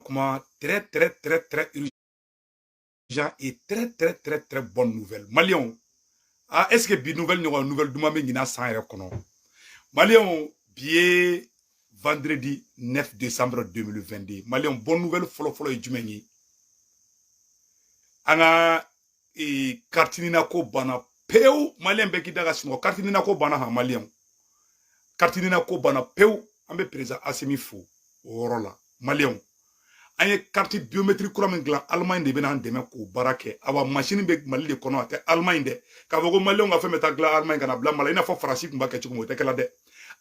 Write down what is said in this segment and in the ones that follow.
kuma très très très très urgent et très très très très bonne nouvelle maliyɛnw ah est ce que bi nouvelle ɲɔgɔn nouvelle duman bɛ ɲinan san yɛrɛ kɔnɔ maliyɛnw bi ye vendredi 9 décembre 2022 maliyɛnw bonne nouvelle fɔlɔfɔlɔ ye jumɛn ye an ka ee carte nina ko banna pewu maliyɛn bɛɛ k'i da ka sunɔgɔ carte nina ko banna ha maliyɛnw carte nina ko banna pewu an bɛ président asimi fo o yɔrɔ la maliyɛnw an ye carte biométrique kura min dilan alemaɲi de bɛna an dɛmɛ k'o baara kɛ awa masini bɛ mali de kɔnɔ a tɛ alemaɲi dɛ k'a fɔ ko maliyɛnw ka fɛn bɛ taa dilan alemaɲi ka na bila mali i n'a fɔ faransi tun b'a kɛ cogo min o tɛ kɛla dɛ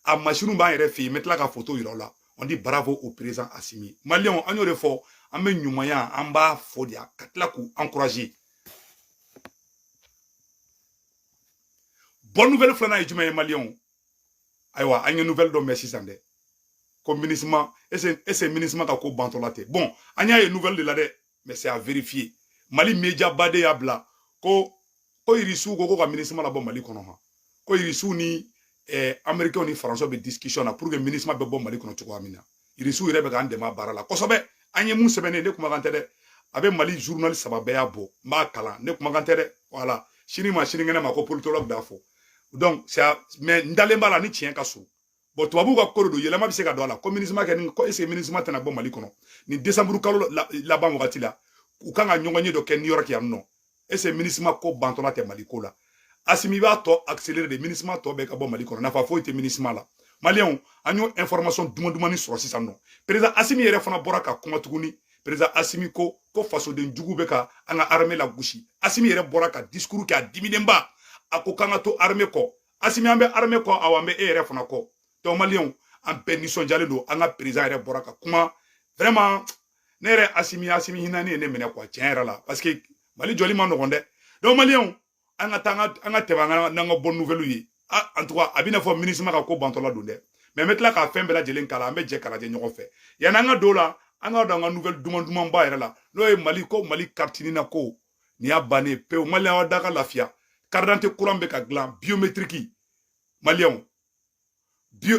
a masiniw b'an yɛrɛ fɛ yen n bɛ tila ka foto yira o la on dit bravo au président Assimi maliyɛnw an y'o de fɔ an bɛ ɲumanya an b'a fɔ de ka tila k'u encourager bonne nouvelle filanan ye jumɛn ye maliyɛnw ayiwa an ye nouvelle dɔ mɛn sisan dɛ ko minusma est ce est ce minusma ka ko bantɔla tɛ bon an y'a ye nouvelle de la dɛ mais c'est à vérifier mali media ba de y'a bila ko ko irisiw ko ko ka minusma labɔ mali kɔnɔ han ko irisiw ni eh, américain ni français bɛ discussion na pour que minusma bɛ bɔ mali kɔnɔ cogoya min na irisiw yɛrɛ bɛ k'an dɛmɛ a baara la kosɛbɛ an ye mun sɛbɛnnen ne kumakan tɛ dɛ a bɛ mali journal saba bɛɛ y'a bɔ n b'a kalan ne kumakan tɛ dɛ voilà sini ma sinikɛnɛ ma ko politologue d'a fɔ donc mais n dalen b'a la ni tiɲɛ ka surun bon tubabuw ka ko de don yɛlɛma bɛ se ka don a la ko minusma ka nin ko est ce minusma tɛna bɔ mali kɔnɔ nin desanburu kalo laban wagati la u kan ka ɲɔgɔnye dɔ kɛ new york yan nɔ est ce minusma ko bantɔla tɛ mali ko la asimi i b'a tɔ accélérer dɛ minusma tɔ bɛɛ ka bɔ mali kɔnɔ nafa foyi tɛ minusma la maliyɛnw an y'o information duman dumani sɔrɔ sisan nɔ président asimi yɛrɛ fana bɔra ka kuma tuguni président asimi ko ko fasoden jugu bɛ ka an ka armée la gosi asimi yɛrɛ bɔra ka discours kɛ a diminenba a ko k'an ka to armée kɔ asimi an bɛ armée kɔ awa an bɛ e yɛrɛ fana kɔ donc maliyɛnw an bɛɛ nisɔndiyalen don an ka président yɛrɛ bɔra ka kuma vraiment ne yɛrɛ asimi asimi hinani ye ne minɛ quoi tiɲɛ yɛrɛ la parce que mali jɔli man nɔgɔn dɛ donc maliyɛnw an ka taa an ka tɛmɛ an ka n'an ka bonne nouvelle ye en tout cas a bɛna fɔ minusma ka ko bantɔla don dɛ mais n bɛ tila ka fɛn bɛɛ lajɛlen kalan an bɛ jɛ k'a lajɛ ɲɔgɔn fɛ yanni an ka don o la an ka don an ka nouvelle duman dumanba yɛrɛ la n'o ye mali ko mali carte nina ko nin y'a bannen pewu maliyɛn aw da ka lafiya carte d'identité kura bɛ ka dilan biométrique maliyɛnw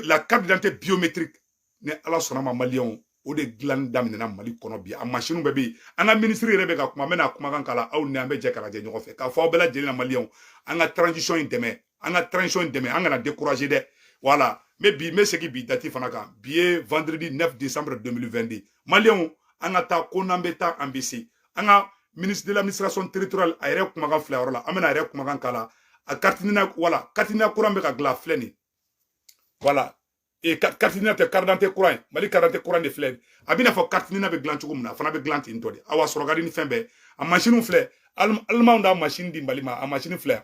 la carte d'identité biométrique ni ala sɔnna a ma maliyɛnw o de dilanni daminɛna mali kɔnɔ bi a masiniw bɛɛ bɛ yen an ka minisiri yɛrɛ bɛ ka kuma n bɛna kumakan kalan aw ɲɛ an bɛ jɛ k'a lajɛ ɲɔgɔn fɛ k'a fɔ aw bɛɛ lajɛlen na maliyɛnw an ka transition in dɛmɛ an ka transition dɛmɛ an kana décourager dɛ voilà n bɛ bi n bɛ segin bi dati fana kan bi ye vendredi 9 décembre 2022 maliyɛnw an ka taa ko n'an bɛ taa an bɛ se an ka ministre de l'administration territoriale a yɛrɛ kumakan filɛ yɔrɔ la an bɛna a yɛrɛ kumakan kalan a carte nina voilà carte nina kura bɛ ka dilan filɛ nin voilà e carte nina tɛ karidante kura ye mali karidante kura de filɛ a b'i n'a fɔ carte nina bɛ dilan cogo min na a fana bɛ dilan ten tɔ de awa sɔrɔ ka di ni fɛn bɛɛ a masiniw filɛ alimanw d'a masini di mali ma a masini filɛ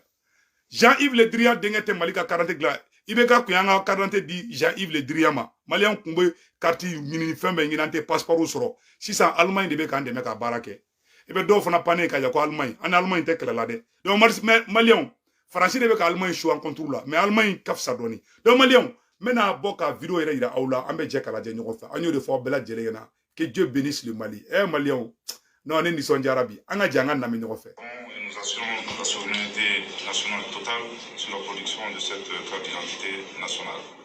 jean yves le drian denkɛ tɛ mali ka karidante dilan ibk kun y'an ka karidante di jean yves le drian ma maliyɛnw kun bɛ kariti ɲini fɛn bɛɛ ɲini an tɛ passeport sɔrɔ sisan alimaɲi de bɛ k'an dɛmɛ ka baara kɛ i bɛ dɔw fana pannen ka jɔ ko alimaɲi an ni alimaɲi tɛ kɛlɛ la dɛ donc maliyɛnw faransi de bɛ ka alimaɲi su an kɔnturu la mais alimaɲi ka fisa dɔɔni donc maliyɛnw n bɛna bɔ ka video yɛrɛ yira aw la an bɛ jɛ k'a lajɛ ɲɔgɔn fɛ an y'o de fɔ aw bɛɛ lajɛlen ɲɛna que dieu bénisse le mali ɛ eh, maliyɛnw non ne nisɔndiyara bi an ka jɛ an k'a namɛn ɲɔgɔn fɛ nous assurons la souveraineté nationale totale sur la production de cette carte d'identité nationale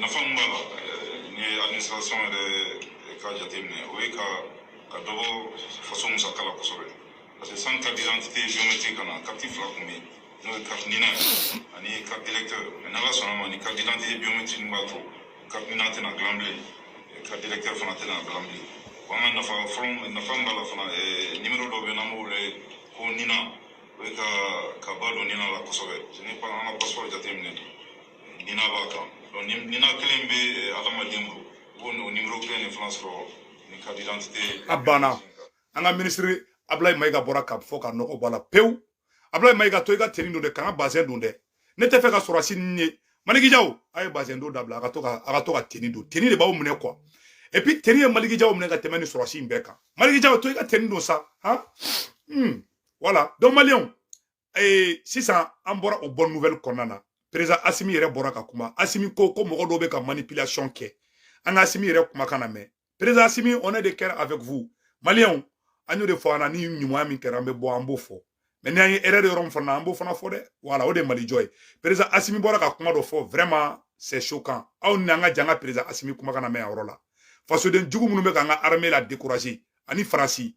nafa min b'a la ni ye administration yɛrɛ ka jateminɛ o ye ka ka dɔ bɔ faso musaka la kosɛbɛ parce que sanni carte d'identité biométrique ka na carte fila kun bɛ yen n'o ye carte nina ani carte électeur mais n'ala sɔnn'a ma ni carte d'identité biométrique b'a to carte nina tɛna dilan bilen carte électeur fana tɛna dilan bilen wa an ka nafa fɔlɔ nafa min b'a la fana nimero dɔ bɛ yen n'an b'o wele ko nina o ye ka ka ba don nina la kosɛbɛ n'i y'an ka passeport jateminɛ Nina b'a kan nina kelen bɛ adamaden bolo i b'o n'o nimoro kelen de fana sɔrɔ ni carte d'identité a banna an ka minisiri Ablaye Mayiga bɔra k'a fɔ ka nɔgɔ bɔ a la pewu Ablaye Mayiga to i ka teni don dɛ kana bazɛn don dɛ ne tɛ fɛ ka sɔrɔsi ni ye Maliki Jaw a ye bazɛn don dabila a ka to ka a ka to ka teni don teni de b'aw minɛ quoi et puis teni ye Maliki Jaw minɛ ka tɛmɛ ni sɔrɔsi in bɛɛ kan Maliki Jaw to i ka teni don sa han hmm. voilà donc maliyɛnw ee sisan an bɔra o bonne nouvelle kɔnɔna na président asimi yɛrɛ bɔra ka kuma asimi ko ko mɔgɔ dɔw bɛ ka manipulation kɛ an ka asimi yɛrɛ kumakan namɛn président asimi on est de cœur avec vous maliyɛnw an y'o de fɔ an na ni ɲuman min kɛra an bɛ bɔ an b'o fɔ mais ni an ye erreur yɔrɔ min fana na an b'o fana fɔ dɛ voilà o de ye mali jɔ ye président asimi bɔra ka kuma dɔ fɔ vraiment c'est choquant aw ni an ka jɛ an ka président asimi kumakan namɛn a yɔrɔ la fasoden jugu minnu bɛ k'an ka armée la décourager ani faransi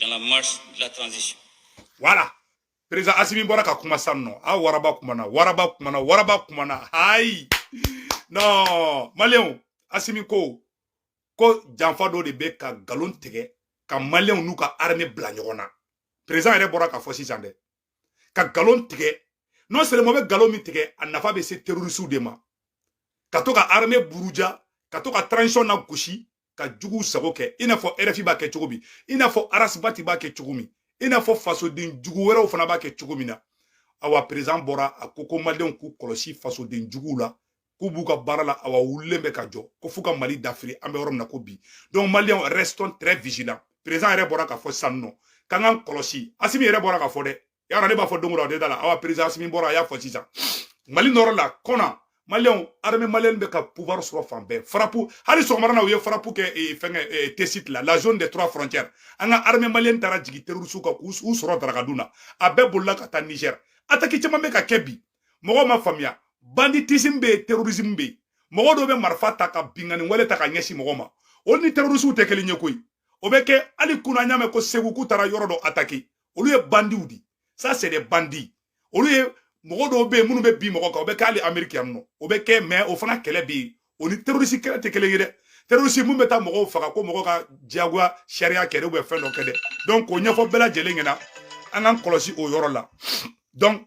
dans la marche de la transition. Voilà. Président Assimi bɔra ka kuma sa non a waraba kumana waraba kumana waraba kumana ayi non maliyɛnw Assimi ko ko janfa dɔ de bɛ ka nkalon tigɛ ka maliyɛnw n'u ka armée bila ɲɔgɔn na président yɛrɛ bɔra k'a fɔ sisan dɛ ka nkalon tigɛ non seulement bɛ nkalon min tigɛ a nafa bɛ se terrorisiw de ma ka to ka armée buruja ka to ka transition nagosi ka juguw sago kɛ i n'a fɔ rfi b'a kɛ cogo min i n'a fɔ ras bath b'a kɛ cogo min i n'a fɔ fasoden jugu wɛrɛw fana b'a kɛ cogo min na awa perezan bɔra a ko ko maliyɛnw k'u kɔlɔsi fasoden juguw la k'u b'u ka baara la awa wulilen bɛ ka jɔ ko f'u ka mali dafiri an bɛ yɔrɔ min na ko bi donc maliyɛnw restons très vigilants perezan yɛrɛ bɔra k'a fɔ sisan non k'an k'an kɔlɔsi asimi yɛrɛ bɔra k'a fɔ dɛ y'a dɔn ne b'a fɔ don o don a tɛ da a la awa perezan asimi bɔra a y'a fɔ sisan mali nɔrɔ la kɔni maliyɛnw arme maliyɛn bɛ ka pouvoir sɔrɔ fan bɛɛ farapu hali sɔgɔmada na u ye farapu kɛ eh, fɛnkɛ eh, tesit la la zone des trois frontières an ka arme maliyɛn taara jigin terrorisiw kan k'u sɔrɔ darakadun na a bɛɛ bolila ka taa niger ataki caman bɛ ka kɛ bi mɔgɔw ma faamuya banditisme bɛ yen terrorisme bɛ yen mɔgɔ dɔw bɛ marifa ta ka binkanni wale ta ka ɲɛsin mɔgɔ ma olu ni terrorisiw tɛ kelen ye koyi o bɛ kɛ hali kunun an y'a mɛn ko segu k'u taara yɔrɔ dɔ ataki olu ye bandiw di ça c'est des bandits olu ye mɔgɔ dɔw bɛ yen minnu bɛ bin mɔgɔ kan o bɛ kɛ hali ameriki yan nɔ o bɛ kɛ mais o fana kɛlɛ bɛ yen o ni terorisi kɛlɛ tɛ kelen ye dɛ terorisi min bɛ taa mɔgɔw faga ko mɔgɔ ka diyagoya sariya kɛ dɛ ou bien fɛn dɔ kɛ dɛ donc o ɲɛfɔ bɛɛ lajɛlen ɲɛna an k'an kɔlɔsi o yɔrɔ la donc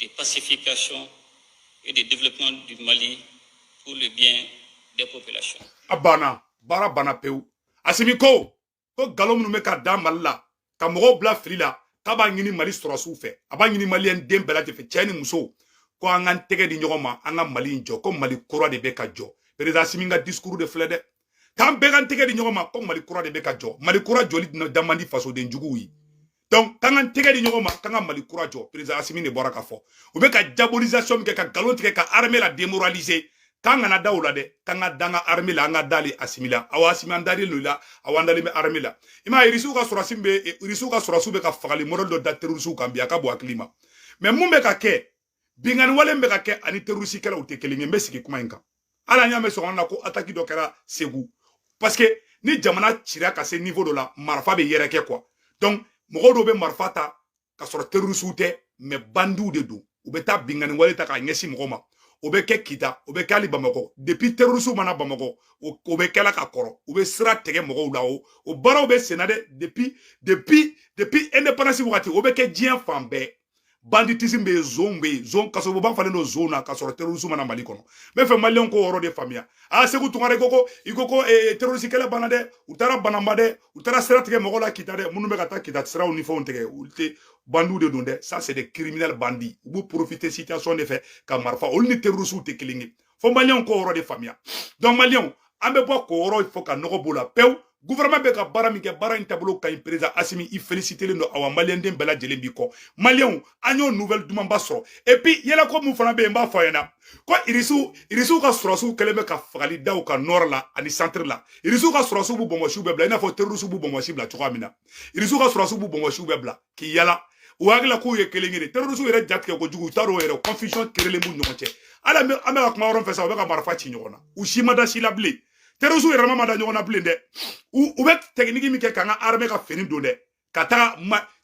de pacification et de développement du Mali pour le bien des populations. A banna baara banna pewu Asimi ko ko nkalon minnu bɛ ka da Mali la ka mɔgɔw bila fili la k'a b'a ɲini Mali sɔrɔsiw fɛ a b'a ɲini maliyɛn den bɛɛ lajɛlen fɛ cɛ ni muso ko an k'an tɛgɛ di ɲɔgɔn ma an ka Mali in jɔ ko Mali kura de bɛ ka jɔ perezida Asimi ka discours de filɛ dɛ k'an bɛɛ k'an tɛgɛ di ɲɔgɔn ma ko mali kura de bɛ ka jɔ mali kura jɔli da man di fasoden juguw ye donc k'an k'an tɛgɛ di ɲɔgɔn ma k'an ka mali kura jɔ président asimi de bɔra k'a fɔ u bɛ ka diabolisation min kɛ ka nkalon tigɛ ka armée la démoraliser k'an kana da o la dɛ k'an ka da an ka armée la an ka dali asimi la awa asimi an dalen don i la awa an dalen bɛ armée la i m'a ye irisiw ka sɔrɔsi bɛ irisiw ka sɔrɔsiw bɛ ka fagali modèle dɔ da terrorisiw kan bi a ka bon hakili ma mais mun bɛ ka kɛ binkanni wale bɛ ka kɛ ani terrorisikɛlaw o tɛ kelen ye n bɛ sigi kuma in kan hali an y'a mɛn sɔgɔma na ko ataki dɔ kɛra segu parce que ni jamana cira ka se niveau dɔ la marifa bɛ yɛrɛkɛ quoi donc mɔgɔ dɔw bɛ marifa ta ka sɔrɔ terrorisiw tɛ mais bandiw de don u bɛ taa binkanni wale ta k'a ɲɛsin mɔgɔ ma o bɛ kɛ kita o bɛ kɛ hali bamakɔ depuis terrorisiw ma na bamakɔ o bɛ kɛla ka kɔrɔ u bɛ sira tigɛ mɔgɔw la o o baaraw bɛ senna dɛ depuis depuis depuis indépendance wagati o bɛ kɛ diɲɛ fan bɛɛ banditisme bɛ yen zon bɛ yen zon kasobonba falen don zon na ka sɔrɔ terrorisme ma na mali kɔnɔ n b'a fɛ maliyɛnw k'o yɔrɔ de faamuya a segu tunkara i ko ko i ko ko eh, terroriste kɛlɛ banna dɛ u taara bananba dɛ u taara sira tigɛ mɔgɔ la kita dɛ minnu bɛ ka taa kita siraw ni fɛnw tigɛ olu tɛ bandiw de don dɛ ça c'est des criminels bandits u bɛ profiter situation de fɛ ka marifa olu ni terroristes tɛ kelen ye fo maliyɛnw k'o yɔrɔ de faamuya donc maliyɛnw an bɛ bɔ k'o yɔrɔ fɔ ka nɔgɔ b'o la pewu gouvernement bɛ ka baara min kɛ baara in taabolo ka ɲi président asimi i félicitelen don awa maliyɛnden bɛɛ lajɛlen b'i kɔ maliyɛnw an y'o nouvelle dumanba sɔrɔ et puis yɛlɛko min fana bɛ yen n b'a fɔ a ɲɛna ko irisiw irisiw ka sɔrɔsiw kɛlen bɛ ka fagali da u kan nord la ani centre la irisiw ka sɔrɔsiw b'u bɔnbɔsiw bɛɛ bila i n'a fɔ terrorisiw b'u bɔnbɔsi bila cogoya min na irisiw ka sɔrɔsiw b'u bɔnbɔsiw bɛɛ bila k'i yala u hakili la k'u ye kelen ye de terrorisiw yɛrɛ ja tigɛ kojugu u t'a dɔn yɛrɛ confusion kerelen b'u ɲɔgɔn cɛ hali an bɛ an bɛ ka kuma yɔrɔ fɛ sa u bɛ ka marifa ci ɲɔgɔn na u si ma da si la bilen terrorisiw yɛrɛma ma da ɲɔgɔn na bilen dɛ u u bɛ tɛkiniki min kɛ k'an ka armée ka fini don dɛ ka taga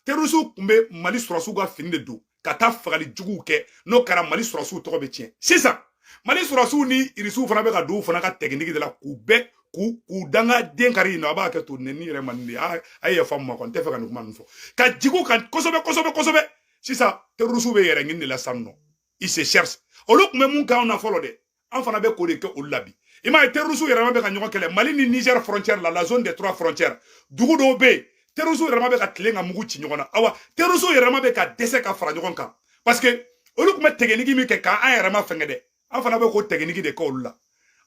terrorisiw tun bɛ mali sɔrɔdasiw ka fini de don ka taa fagali juguw kɛ n'o kɛra mali sɔrɔdasiw tɔgɔ bɛ tiɲɛ sisan mali sɔrɔdasiw ni irisiw fana bɛ ka don u fana ka tɛkiniki de la k'u bɛɛ k'u k'u dangaden kari in na a b'a kɛ to nɛni yɛrɛ man di a ye yafa n ma n kɔni tɛ fɛ ka nin kuma ninnu fɔ ka jigin u kan kosɛbɛ kosɛbɛ kosɛbɛ sisan terrorisiw b'u yɛrɛ ɲini de la sisan nɔ ils se cherchent olu tun bɛ mun k'anw na fɔlɔ dɛ an fana bɛ k'o de kɛ olu la bi i m'a ye terrorisiw yɛrɛma bɛ ka ɲɔgɔn kɛlɛ mali ni niger frontière la la zone des trois frontières dugu dɔw bɛ yen terrorisiw yɛrɛma bɛ ka tilen ka mugu ci ɲɔgɔn na awa terrorisiw yɛrɛma bɛ ka dɛsɛ ka fara ɲɔgɔn kan parce que olu tun bɛ tɛgɛnigi min kɛ k'an yɛrɛma fɛngɛ dɛ an fana bɛ k'o tɛgɛnigi de kɛ olu la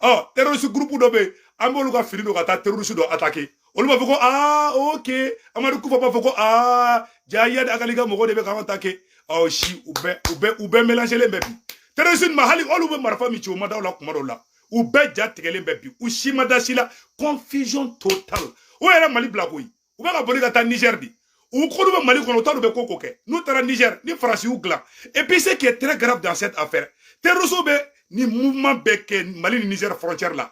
ɔ terrorisi gurupu dɔ bɛ yen an b'olu ka fini don ka taa terrorisi dɔ atake olu b'a fɔ ko aa ok amadu kufa b'a fɔ ko aa jaa iyad ag ali ka mɔgɔw de bɛ k'an atake ɔ si u bɛɛ u bɛɛ u bɛɛ mɛlanzelen bɛ bi terroriste ma hali olu bɛ marifa min ci o ma da o la kuma dɔw la u bɛɛ ja tigɛlen bɛ bi u si ma da si la confusion totale o yɛrɛ mali bila koyi u bɛ ka boli ka taa niger de u k'olu bɛ mali kɔnɔ u t'a dɔn u bɛ ko ko kɛ n'u taara niger ni faransi y'u dilan et puis ce qui est très grave dans cette affaire terrorisiw bɛ nin mouvement bɛɛ kɛ mali ni niger frontière la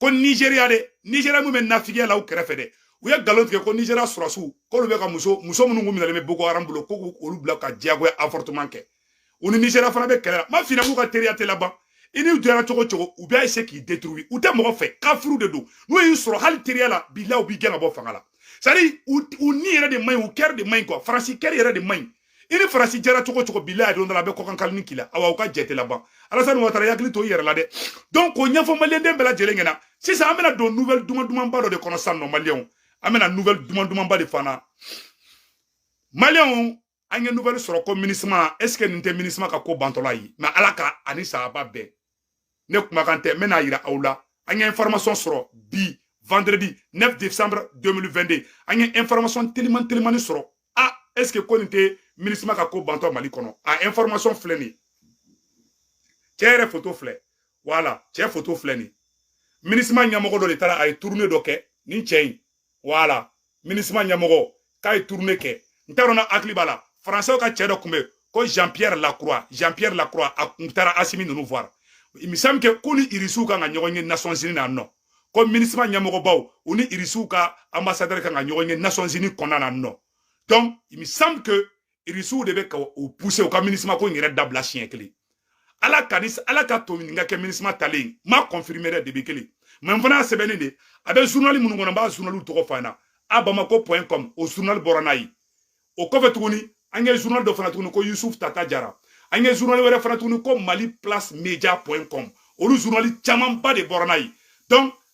ko nigeria de nigeria min bɛ nafigiya la u kɛrɛfɛ dɛ u ye nkalon tigɛ ko nigeria sɔrɔdasiw k'olu bɛ ka muso muso minnu kun minɛlen bɛ boko haram bolo ko k'olu bila ka diyagoya avortement kɛ u ni nigeria fana bɛ kɛlɛ la n m'a f'i ɲɛ k'u ka teriya tɛ laban i n'u jɛra cogo cogo u bɛ eseye k'i detruwi u tɛ mɔgɔ fɛ kafiriw de don n'u y'i sɔrɔ hali teriya la bilahi u b'i gɛn ka bɔ fanga la c'est-à-dire u ni yɛrɛ de man ɲi u kɛri de man ɲi quoi faransi kɛri yɛrɛ de man ɲi i ni faransi jɛra cogo cogo bilahi don dɔ la a bɛ kɔkan kalini k'i la awa u ka jɛ tɛ laban alasani watara i hakili to i yɛrɛ la dɛ donc k'o ɲɛfɔ maliyɛnden bɛɛ lajɛlen ɲɛna sisan an bɛna don nouvelle duman dumanba dɔ de kɔnɔ sisan nɔ maliyɛnw an bɛna nouvelle duman dumanba de fana maliyɛnw an ye nouvelle sɔrɔ ko minisima est ce que nin tɛ minisima ka ko bantɔla ye mais ala ka ani sahaba bɛɛ ne kumakan tɛ n bɛn'a yira aw la an ye information sɔrɔ bi vendredi 9 décembre 2022 an ye information teliman telimani sɔrɔ a ah, est ce que ko nin tɛ minisima ka ko bantɔ mali kɔnɔ a ah, information filɛ nin cɛ yɛrɛ foto filɛ voilà cɛ foto filɛ nin minisima ɲɛmɔgɔ dɔ de taara a ye tournée dɔ kɛ nin cɛ in voilà minisima ɲɛmɔgɔ k'a ye tournée kɛ n t'a dɔn n'a hakili b'a la faransɛw ka cɛ dɔ kun bɛ ko jean pierre lacroix jean pierre lacroix a kun taara asimi ninnu voir il me semble que k'u ni irisiw kan ka ɲɔgɔn ye nasɔnsini na nɔ ko minisima ɲɛmɔgɔbaw u ni irisiw ka ambasadɛri kan ka ɲɔgɔn ye nasɔnsini kɔnɔna na nɔ donc il me semble que irisiw de bɛ ka u puse u ka minisima ko in yɛrɛ dabila siɲɛ kelen ala ka ni ala k'a to nin ka kɛ minisima taalen ma kɔnfirime dɛ debi kelen mɛ n fana y'a sɛbɛnnen de a bɛ zunali minnu kɔnɔ n b'a zunaliw tɔgɔ fana a bamako point com o zunali bɔra n'a ye o kɔfɛ tuguni an ye zunali dɔ fana tuguni ko yusuf tata jara an ye zunali wɛrɛ fana tuguni ko mali place media point com olu zunali camanba de bɔra n'a ye donc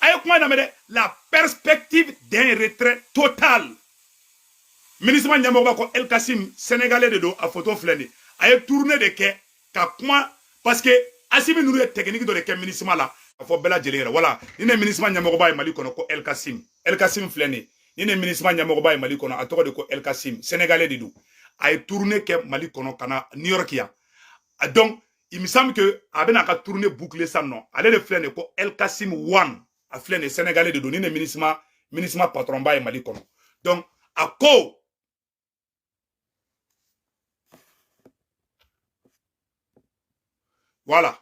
a ye kuma lamɛn dɛ la perspective d'un retrait total minisima ɲɛmɔgɔba ko elkasim sénégalais de don a photo filɛ nin a ye tournée de kɛ ka kuma parce que asimi ninnu ye technique dɔ de kɛ minisima la k'a fɔ bɛɛ lajɛlen yɛrɛ voilà nin de minisima ɲɛmɔgɔba ye mali kɔnɔ ko elkasim elkasim filɛ nin nin de minisima ɲɛmɔgɔba ye mali kɔnɔ a tɔgɔ de ko elkasim sénégalais de don a ye tournée kɛ mali kɔnɔ ka na new york yan donc il me semble que a bɛna a ka tournée boucler san nɔ ale de filɛ nin ko El Kassim Wan a filɛ nin Sénégalais de don nin de minisma patron ba ye Mali kɔnɔ donc a ko voilà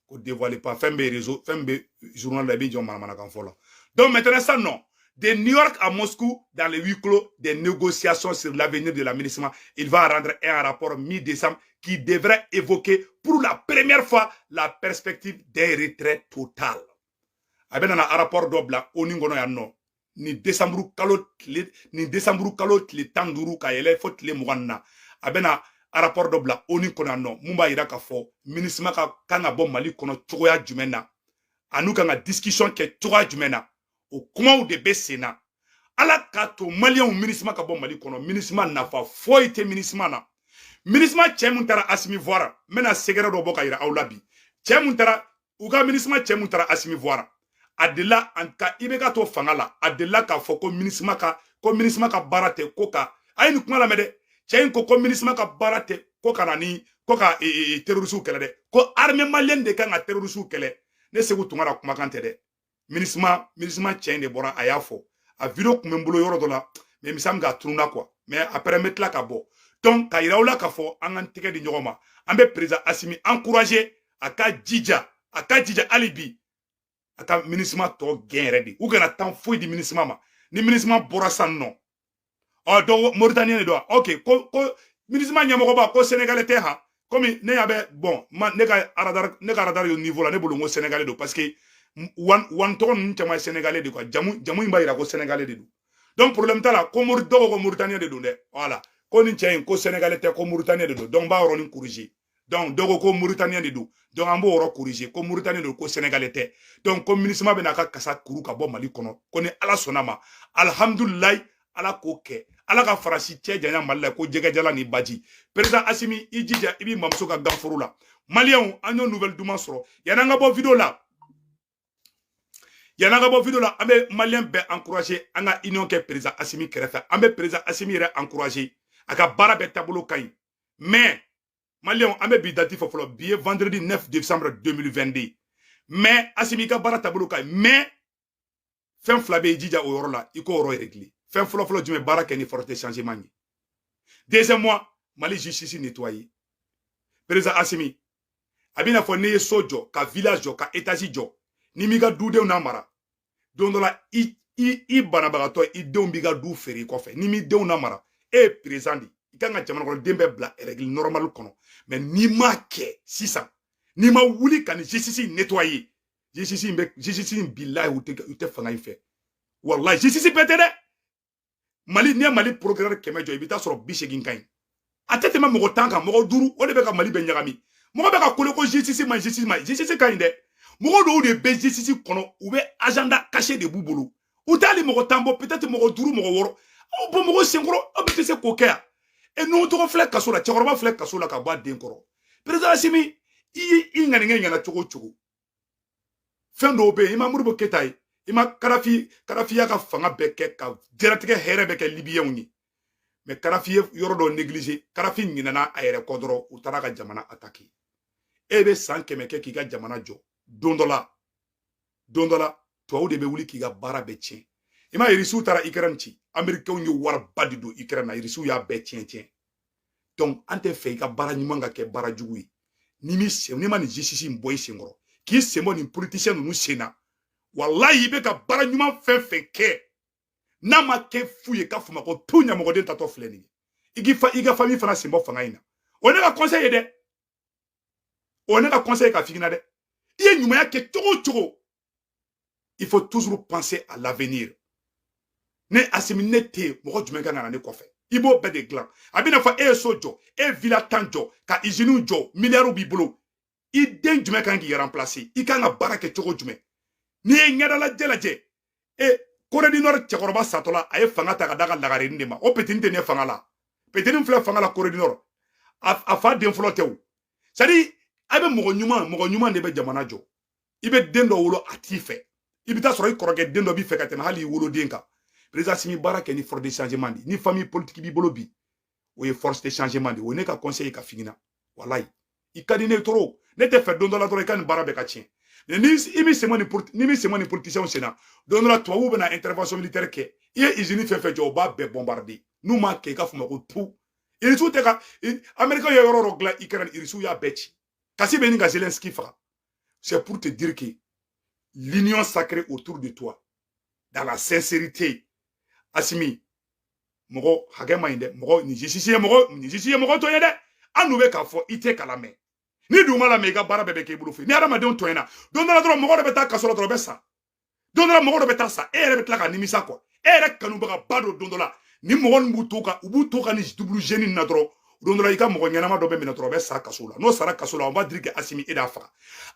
ko dévoile pas fɛn bɛ réseau fɛn bɛ journal la i bɛ jɔ manamanakan fɔ la donc maintenant san nɔ de New York à Moscou, dans les huis clos, des négociations sur l'avenir de la Minusma. Il va rendre un rapport mi-décembre qui devrait évoquer pour la première fois la perspective d'un retrait total. a bɛna na arapɔri dɔ bila oni kɔnɔ yan nɔ ni desanburu kalo tile ni desanburu kalo tile tan duuru ka yɛlɛ fo tile mugan na a bɛna arapɔri dɔ bila oni kɔnɔ yan nɔ mun b'a yira k'a fɔ minisima ka kan ka bɔ mali kɔnɔ cogoya jumɛn na an'u kan ka disikisɔn kɛ cogoya jumɛn na o kumaw de bɛ sen na ala k'a to maliyɛnw minisima ka bɔ mali kɔnɔ minisima nafa foyi tɛ minisima na minisima cɛ mun taara asimi voir n bɛna secret dɔ bɔ k'a yira aw la bi cɛ mun taara u ka minisima cɛ mun taara asimi voir a delila an ka i bɛ ka to fanga la a delila k'a fɔ ko minisima ka ko minisima ka baara tɛ ko ka a ye nin kuma lamɛn dɛ cɛ in ko ko minisima ka baara tɛ ko ka na ni ko ka terorisiw kɛlɛ dɛ ko armée malienne de kan ka terorisiw kɛlɛ ne seku tunkara kumakan tɛ dɛ minisima minisima cɛ in de bɔra a y'a fɔ a video kun bɛ n bolo yɔrɔ dɔ la mais me semble k'a tununa quoi mais après n bɛ tila k'a bɔ donc k'a yira aw la k'a fɔ an k'an tɛgɛ di ɲɔgɔn ma an bɛ président asimi encourager a k'a jija a k'a jija hali bi a ka minisima tɔ gɛn yɛrɛ de u kana temps foyi di minisima ma ni minisima bɔra san nɔ ɔ donc mauritanien de don wa ok ko ko minisima ɲɛmɔgɔba ko sénégalais tɛ ha komi ne y'a bɛ bon ma ne ka radar ne ka radar yo niveau la ne bolo n ko sénégalais don parce que wan wan tɔgɔ ninnu caman ye sénégalais de quoi jamu jamu in b'a yira ko sénégalais de don donc problème t'a la ko mori dɔw ko mauritanien de don dɛ voilà ko nin cɛ in ko sénégalais tɛ ko mauritanien de don donc n b'a yɔrɔnin corriger donc dɔ ko ko mauritanien de don donc an b'o yɔrɔ corriger ko mauritanien don ko sénégalais tɛ donc ko minisima bɛn'a ka kasa kuru ka bɔ mali kɔnɔ ko ni ala sɔnn'a ma alihamudulilayi ala k'o kɛ ala ka faransi cɛ janya mali la ko jɛgɛjalan ni baji président asimi i jija i b'i mamuso ka ganforo la maliyɛnw an y'o nouvelle duman sɔrɔ yann'an ka bɔ video la yann'an ka bɔ video la an bɛ maliyɛn bɛɛ encourager an ka union kɛ président asimi kɛrɛfɛ an bɛ président asimi yɛrɛ encourager a ka baara bɛɛ taabolo ka ɲi mais maliyɛnw an bɛ bi dati fɔ fɔlɔ bi ye vendredi 9 décembre 2022 mais asimi i ka baara taabolo ka ɲi mais fɛn fila bɛ i jija o yɔrɔ la i k'o yɔrɔ régler fɛn fɔlɔ fɔlɔ jumɛn baara kɛ ni forte changement ye deuxièmement mali justice nettoyer président asimi a bɛna fɔ ne ye so jɔ ka villa jɔ ka étage jɔ n'i m'i ka dudenw namara don dɔ la i i i banabagatɔ i denw b'i ka du feere i kɔfɛ n'i m'i denw namara e ye président de i kan ka jamanakɔnɔden bɛɛ bila règle normale kɔnɔ mais n'i m'a kɛ sisan n'i ma wuli ka nin jisisi in nettoyer jisisi in bɛ jisisi in bilayi u tɛ u tɛ fanga in fɛ walayi jisisi bɛɛ tɛ dɛ mali n'i ye mali procureur kɛmɛ jɔ i bɛ t'a sɔrɔ bi seegin ka ɲi a tɛ tɛmɛ mɔgɔ tan kan mɔgɔ duuru o de bɛ ka mali bɛɛ ɲagami mɔgɔ bɛ ka kulo ko jisisi ma jisisi ma jisisi ka ɲi dɛ mɔgɔ dɔw de bɛ jisisi kɔnɔ u bɛ agenda caché de b'u bolo u t'ali mɔgɔ tan bɔ peut-être mɔgɔ duuru mɔgɔ wɔɔrɔ aw bɔ mɔgɔ senkɔrɔ aw bɛɛ tɛ se k'o kɛ yan e nuhun togo filɛ kaso la cɛkɔrɔba filɛ kaso la ka bɔ a den kɔrɔ président asimi i y'i i ŋaniya ɲɛna cogo o cogo fɛn dɔw bɛ yen i ma modibo keyita ye i ma kadafi kadafi y'a ka fanga bɛɛ kɛ ka diɲɛlatigɛ hɛrɛ bɛɛ kɛ libiyɛnw ye mais kadafi ye yɔrɔ dɔ negilize kadafi ɲinɛna a yɛrɛ kɔ dɔrɔn u taara ka jamana ataki e bɛ san kɛmɛ kɛ k'i ka jamana jɔ don dɔ la don dɔ la tubabu de bɛ wuli k'i ka baara bɛɛ tiɲɛ i ma irisiw taara ikɛrɛn ci amerikɛnw ye wariba de don ikɛrɛn na irisiw y'a bɛɛ tiɲɛ tiɲɛ donc an tɛ fɛ i ka baara ɲuman ka kɛ baara jugu ye n'i m'i sen n'i ma nin jisisi in bɔ i senkɔrɔ k'i sen bɔ nin politisiyɛn ninnu sen na walayi i bɛ ka baara ɲuman fɛn fɛn kɛ n'a ma kɛ fu ye k'a fɔ n ma ko tu ɲɛmɔgɔden tatɔ filɛ nin ye i k'i fa i ka fami fana sen bɔ fanga in na o ne ka conseil ye dɛ o ne ka conseil ka figina dɛ i ye ɲumanya kɛ cogo o cogo il faut toujours penser à l'avenir ne asimi ne tɛ yen mɔgɔ jumɛn kan ka na ne kɔfɛ i b'o bɛɛ de dilan a bɛna fɔ e ye so jɔ e ye villa tan jɔ ka iziniw jɔ miliyariw b'i bolo i den jumɛn kan k'i remplacer i kan ka baara kɛ cogo jumɛn n'i ye ɲɛdalajɛ lajɛ e koredinɔri cɛkɔrɔba satɔ la a ye fanga ta k'a d'a ka lagarenin de ma o petini tɛ ne fanga la petini filɛ fanga la koredinɔri a fa den fɔlɔ tɛ o c'est à dire a bɛ mɔgɔ ɲuman mɔgɔ ɲuman de bɛ jamana jɔ i bɛ den dɔ wolo a t'i fɛ i bɛ taa sɔrɔ i kɔrɔkɛ den dɔ b'i fɛ ka tɛmɛ hali i woloden kan président asimi baara kɛ ni force de changement de ni famille politique b'i bolo bi o ye force de changement de o ne ka conseil ka figina walayi i ka di ne trop ne tɛ fɛ don dɔ la dɔrɔn i ka nin baara bɛɛ ka tiɲɛ ni i bɛ sɛmɛ ni ni bɛ sɛmɛ ni politiciens senna don dɔ la tubabuw bɛna intervention militaire kɛ i ye usine fɛn fɛn jɔ o b'a bɛɛ bombarder n'u m'a kɛ i ka fɔ ma ko tu irisiw tɛ ka americain ye yɔrɔ dɔ dilan ukraine irisiw y'a bɛɛ ci kasi bɛ ɲini ka zelenski faga c'est pour te dire que l'union sacrée autour de toi dans la sincérité asimi mɔgɔ hakɛ man ɲi dɛ mɔgɔ nin justice ye mɔgɔ tɔɲɛ dɛ annu bɛ k'a fɔ i tɛ k'a lamɛn n'i dun m'a lamɛn i ka baara bɛɛ bɛ k'i bolo fɛ ni hadamadenw tɔɲɛna don dɔ la dɔrɔn mɔgɔ dɔ bɛ taa kaso la dɔrɔn o bɛ sa don dɔ la mɔgɔ dɔ bɛ taa sa e yɛrɛ bɛ tila ka nimisa quoi e yɛrɛ kanubagaba dɔ don dɔ la ni mɔgɔ ninnu b'u to ka u b'u to ka nin double jeu nin na dɔrɔn don dɔ la i ka mɔgɔ ɲɛnama dɔ bɛ minɛ dɔrɔn a bɛ sa kaso la n'o sara kaso la on va dire que asimi e de y'a faga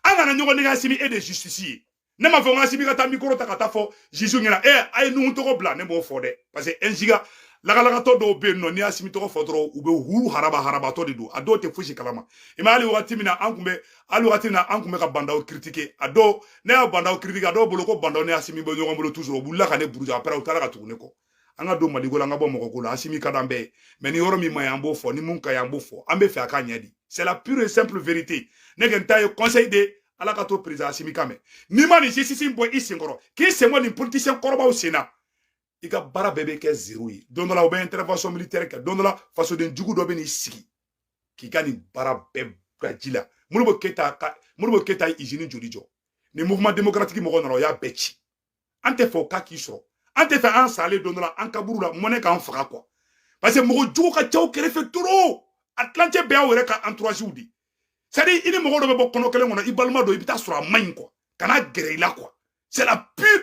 an kana ɲɔgɔn nɛgɛn asimi e de justice ye ne m'a fɔ n ko asimi ka taa micro ta ka taa fɔ juge ɲɛna a ye nuhu togo bila ne b'o fɔ dɛ parce que ɛnsiga lagalagatɔ dɔw bɛ yen nɔ n'i ye asimi tɔgɔ fɔ dɔrɔn u bɛ hu haraba harabatɔ de don a dɔw tɛ fosi kalama i ma hali wagati min na an tun bɛ hali wagati min na an tun bɛ ka ba ndaw critiquer a dɔw ne ye ba ndaw critiquer a dɔw bolo ko ba ndaw ni asimi bɛ ɲɔgɔn bolo toujours o wulila ka ne buruja après u taara ka tugu ne kɔ an ka don maliko la an ka bɔ mɔgɔ ko la asimi ka d'an bɛɛ ye mais ni yɔrɔ min man ɲi an b'o fɔ ni min ka ɲi an b'o fɔ an bɛ fɛ a ka ɲɛ de c'est la pure et simple vérité ne kɔni ta ye conseil de ala k'a to président asimi k'an mɛn n'i ma nin justice bɔ i senkɔrɔ k'i sen bɔ nin politicien kɔrɔbaw sen na i ka baara bɛɛ bɛ kɛ zero ye don dɔ la u bɛ intervention militaire kɛ don dɔ la fasoden jugu dɔ bɛ n'i sigi k'i ka nin baara bɛɛ bila ji la modibo keyita ka modibo keyita ye izini joli jɔ ni mouvement démocratique mɔgɔw nana o y'a bɛɛ ci an tɛ fɛ o ka k'i sɔrɔ an tɛ fɛ an salen don dɔ la an kaburu la mɔnɛ k'an faga quoi parce que mɔgɔ jugu ka ca aw kɛrɛfɛ trop a tilancɛ bɛɛ y'aw yɛrɛ ka entourage de c'est à dire i ni mɔgɔ dɔ bɛ bɔ kɔnɔ kelen kɔnɔ i balima dɔ i bɛ taa sɔrɔ a man ɲi quoi kana gɛrɛ i la quoi c'est la pure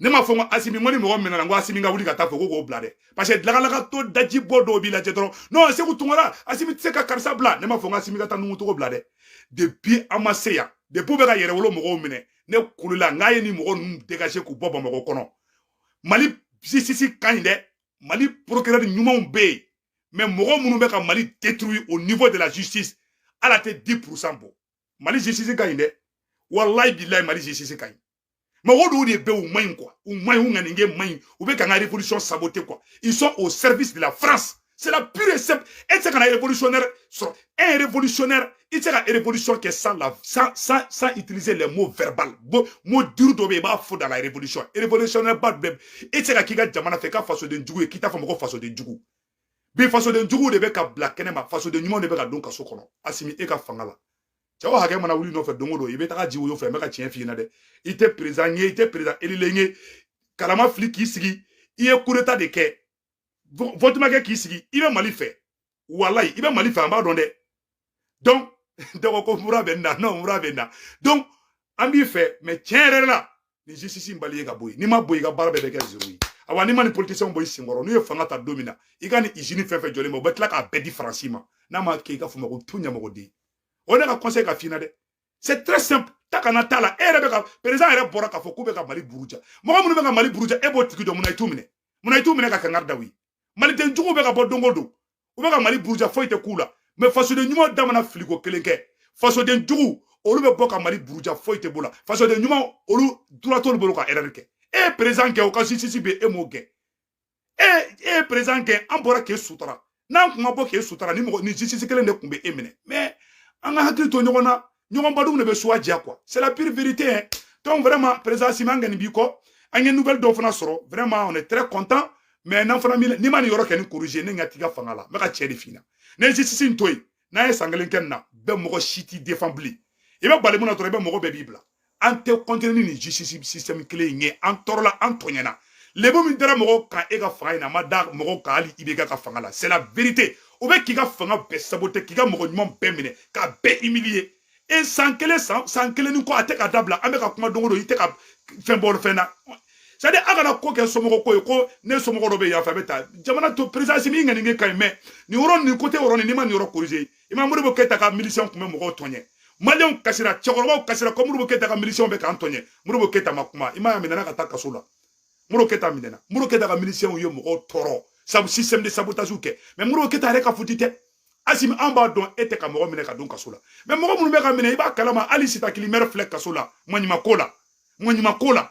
ne ma fɔ n ko asimi ŋo ni mɔgɔ minɛna n ko asimi ka wuli ka taa fɔ ko k'o bila dɛ parce que lagalagatɔ daji bɔ dɔw b'i lajɛ dɔrɔn non seku tunkara asimi tɛ se ka karisa bila ne ma fɔ n ko asimi ka taa nuhu togo bila dɛ depuis an ma se yan depuis u bɛ ka yɛrɛwolo mɔgɔw minɛ ne kulola n k'a ye nin mɔgɔ ninnu dégager k'u bɔ bamakɔ kɔnɔ mali justice ka ɲi dɛ mali procureur ɲumanw bɛ yen mais mɔgɔ minnu bɛ ka mali détruire au niveau de la justice olu tɛ 10 pourcent bɔ mali justice ka ɲi dɛ walayi bilayi mali justice ka ɲi mɔgɔ dɔw de bɛ u man ɲi quoi u man ɲi u ŋaninkɛ man ɲi u bɛ k'an ka révolution saboter quoi ils sont au service de la France c'est la pure et simple e tɛ se ka na révolutionnaire sɔrɔ un révolutionnaire i tɛ se ka révolution kɛ sans la sans sans sans utiliser les mots verbal bon mot dur dɔ bɛ yen i b'a fɔ dans la révolution révolutionnaire ba bɛɛ e tɛ se ka k'i ka jamana fɛ i ka fasoden jugu ye k'i t'a fɔ a ma ko fasoden jugu bi fasoden juguw de bɛ ka bila kɛnɛ ma fasoden ɲumanw de bɛ ka don kaso kɔnɔ asimi e ka fanga la cɛ o hakɛ mana wuli i nɔfɛ don o don i bɛ taga ji woyo fɛ n bɛ ka tiɲɛ f'i ɲɛna dɛ i tɛ président ye i tɛ président elilen ye kala ma fili k'i sigi i ye coup d'état de kɛ vote ma kɛ k'i sigi i bɛ mali fɛ walayi i bɛ mali fɛ an b'a dɔn dɛ donc dɔgɔ ko mura bɛ n na non mura bɛ n na donc an b'i fɛ mais tiɲɛ yɛrɛ la nin justice in balayer ka bɔ yen n'i ma bɔ i ka baara bɛɛ bɛ kɛ zero ye awa n'i ma nin politisiyɛnw bɔ i senkɔrɔ n'u ye fanga ta don min na i ka nin izini fɛn fɛn jɔlen bɛɛ u bɛ tila k'a bɛɛ di faransi ma n'a ma kɛ i ka fɔ n ma ko tu ɲamɔgɔden o ne ka conseil ka f'i ɲɛna dɛ c'est très simple ta kana t'a la e yɛrɛ bɛ ka président yɛrɛ bɔra k'a fɔ k'u bɛ ka mali buruja mɔgɔ minnu bɛ ka mali buruja e b'o tigi dɔn munna i t'u minɛ munna i t'u minɛ ka kangari da u ye maliden juguw bɛ ka bɔ don o don u bɛ ka mali buruja foyi tɛ k'u la mais fasoden ɲuman da mana fili ko kelen kɛ fasoden jugu olu bɛ bɔ ka mali buruja foyi tɛ b'o la fasoden ɲuman olu droit t'olu bolo ka erreur kɛ e ye président kɛ o ka justice bɛ e m'o kɛ e e ye président kɛ an bɔra k'e sutura n'an kun ma bɔ k'e sutura ni mɔgɔ nin justice kelen de tun bɛ e minɛ mais an ka hakili to ɲɔgɔn na ɲɔgɔn ba dun de bɛ suya diya quoi c'est la pure vérité hein donc vraiment président Asimi an kɔni b'i kɔ an ye nouvelle dɔw fana sɔrɔ vraiment on est très content mais n'an fana n'i ma nin yɔrɔ kelen in corriger ne ɲɛ t'i ka fanga la n bɛ ka tiɲɛ de f'i ɲɛna n'e ye justice in to yen n'a ye san kelen kɛ nin na bɛɛ mɔgɔ si t'i défend bilen i bɛ bali mun na dɔrɔn i bɛ mɔgɔ bɛɛ b'i bila an tɛ continuer ni nin justice système kelen in ye an tɔɔrɔla an tɔɲɛna lebu min dara mɔgɔw kan e ka fanga in na a ma da mɔgɔw kan hali ibk ka fanga la c'est la vérité o bɛ k'i ka fanga bɛɛ saboter k'i ka mɔgɔ ɲuman bɛɛ minɛ k'a bɛɛ humilier e san kelen san san kelen ni kɔ a tɛ ka dabila an bɛ ka kuma don o don i tɛ ka fɛn bɔ fɛn na c'est-à-dire a kana ko kɛ somɔgɔ ko ye ko ne somɔgɔ dɔ bɛ yan fɛ a bɛ taa jamana to président asimi ŋaniya ka ɲi mais nin yɔrɔ nin côté yɔrɔ nin n'i ma nin yɔrɔ corriger i ma modibo keyita ka milisiyɛn tun bɛ mɔgɔw tɔɲɛ maliyɛnw kasira cɛkɔrɔbaw kasira ko modibo keyita ka milisiyɛnw bɛ k'an tɔɲɛ modibo keyita ma kuma i m'a ye a minɛna ka taa kaso la modibo keyita minɛna modibo keyita ka milisiyɛnw ye mɔgɔw tɔɔrɔ sabu système de sabotage kɛ mais modibo keyita yɛrɛ ka faute tɛ asimi an b'a dɔn e tɛ ka mɔgɔ minɛ ka don kaso la mais mɔgɔ minnu bɛ ka minɛ i b'a kalama hali sita kilimɛrɛ filɛ kaso la maɲuman ko la maɲuman ko la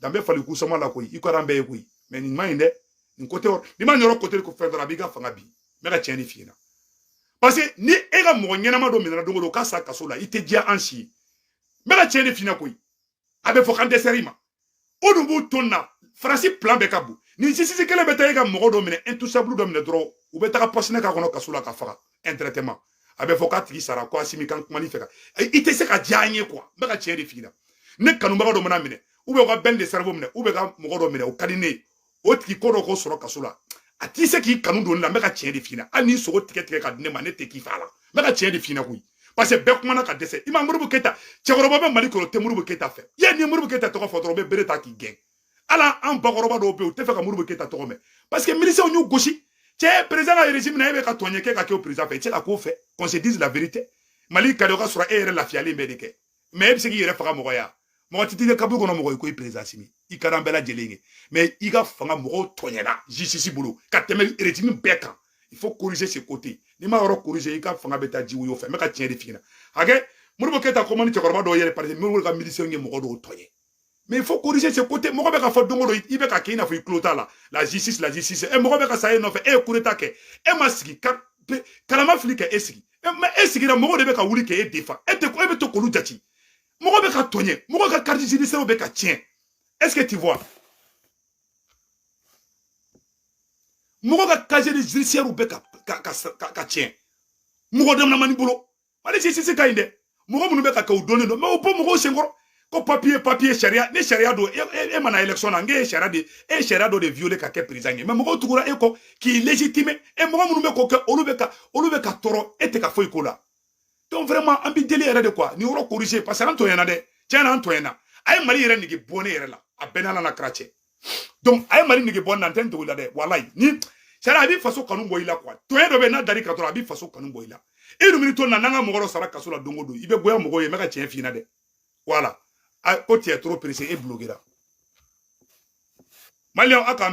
danbe fali kusama la koyi i ko an bɛɛ ye koyi mais nin man ɲi dɛ nin côté yɔrɔ n'i ma yɔrɔ côté ko fɛn dɔrɔn a b'i ka fanga bin n bɛ ka tiɲɛ de f'i ɲɛna parce que ni e ka mɔgɔ ɲɛnama dɔ minɛna don o don ka sa kaso la i tɛ diya an si ye n bɛ ka tiɲɛ de f'i ɲɛna koyi a bɛ fɔ k'an dɛsɛra i ma o dun b'u ton na faransi plan bɛɛ ka bon nin justice kelen bɛ taa e ka mɔgɔ dɔ minɛ intouchable dɔ minɛ dɔrɔn u bɛ taga pɔsɔni k'a kɔnɔ kaso la k'a faga indirectement a bɛ fɔ k'a tigi sara ko asimi kan kuma ni fɛ ka i tɛ se ka diya an ye quoi n bɛ ka tiɲɛ de f'i ɲɛna ne kanubaga dɔ mana minɛ u bɛ ka ben le cerveau minɛ u bɛ ka mɔgɔ dɔ minɛ o ka di ne ye o tigi ko dɔ k'o sɔrɔ kaso la an tɛ se k'i kanu don la n bɛ ka tiɲɛ de f'i ɲɛna hali n'i sogo tigɛ tigɛ ka di ne ma ne tɛ k'i fa la n bɛ ka tiɲɛ de f'i ɲɛna koyi parce que bɛɛ kumana ka dɛsɛ i ma modibo keyita cɛkɔrɔba bɛ mali kɔnɔ tɛ modibo keyita fɛ yen ni modibo keyita tɔgɔ fɔ dɔrɔn u bɛ bere ta k'i gɛn ala an bakɔrɔba dɔw bɛ yen u tɛ fɛ ka moribo keyita tɔgɔ mɛn parce que miliciens y'u gosi cɛ président ka régime na e bɛ ka tɔɲɛ kɛ ka kɛ o président fɛ i tɛ se ka k'o fɛ qu'on se dise la vérité mali ka di o ka sɔrɔ e yɛrɛ lafiyalen bɛ de kɛ mais e bɛ se k'i yɛrɛ faga mɔgɔ ye mɔgɔ tɛ t'i ka kaburu kɔnɔ mɔgɔ i ko président asimi i ka d'an bɛɛ lajɛlen ye mais i ka fanga mɔgɔw tɔɲɛna justice bolo ka tɛmɛ régime bɛɛ kan il faut corriger ce côté n'i ma yɔrɔ corriger i ka fanga bɛ taa ji woyo fɛ n bɛ ka tiɲɛ de f'i ɲɛna hakɛ moribo keyita ko man di cɛkɔrɔba dɔw yɛrɛ parce que moribo ka miliciens ye mɔgɔ dɔw tɔɲɛ mais il faut corriger ce côté mɔgɔ bɛ ka fɔ don o don i bɛ ka kɛ i n'a fɔ i tulo t'a la la justice la justice ɛ mɔgɔ bɛ ka sa e nɔfɛ e ye coup d'état kɛ e ma sigi ka kala ma fili k'e sigi mais e sigira mɔgɔ de bɛ ka wuli k'e défendre e tɛ e bɛ to k'olu jate mɔgɔ bɛ ka tɔɲɛ mɔgɔ ka carte judiciaire bɛ ka tiɲɛ est ce que tu vois mɔgɔ ka casier judiciaire bɛ ka ka ka ka tiɲɛ mɔgɔ damadamanin bolo mali sisi ka ɲi dɛ mɔgɔ minnu bɛ k'a kɛ u dɔnnen don mais u bɔ mɔgɔw sen kɔrɔ ko papiye papiye sariya ni sariya don e, e, e ma na élection na kɛ e ye sariya de e sariya dɔ de violé ka kɛ président ye mais mɔgɔw tugura e kɔ k'i légitimé e mɔgɔ minnu bɛ k'o kɛ olu bɛ ka olu bɛ ka tɔɔrɔ e tɛ ka foyi k'o la donc vraiment an b'i deli yɛrɛ de quoi nin yɔrɔ corriger parce que an tɔɲɛna dɛ tiɲɛ na an tɔɲɛna a ye mali yɛrɛ nege bɔ ne yɛrɛ la a bɛɛ n'a na kara cɛ donc a ye mali nege bɔ n na n tɛn'a dogo i la dɛ walayi ni sari a b'i faso kanu bɔ i la quoi tɔɲɛ dɔ bɛ n'a dar'i kan dɔrɔn a b'i faso kanu bɔ i la i e dumuni to na n'an ka mɔgɔ dɔ sara kaso la don o don i bɛ goya mɔgɔw ye n bɛ ka tiɲɛ f'i ɲɛna dɛ voilà ko tiɲɛ trop pressé e bloquera maliyɛnw a k'an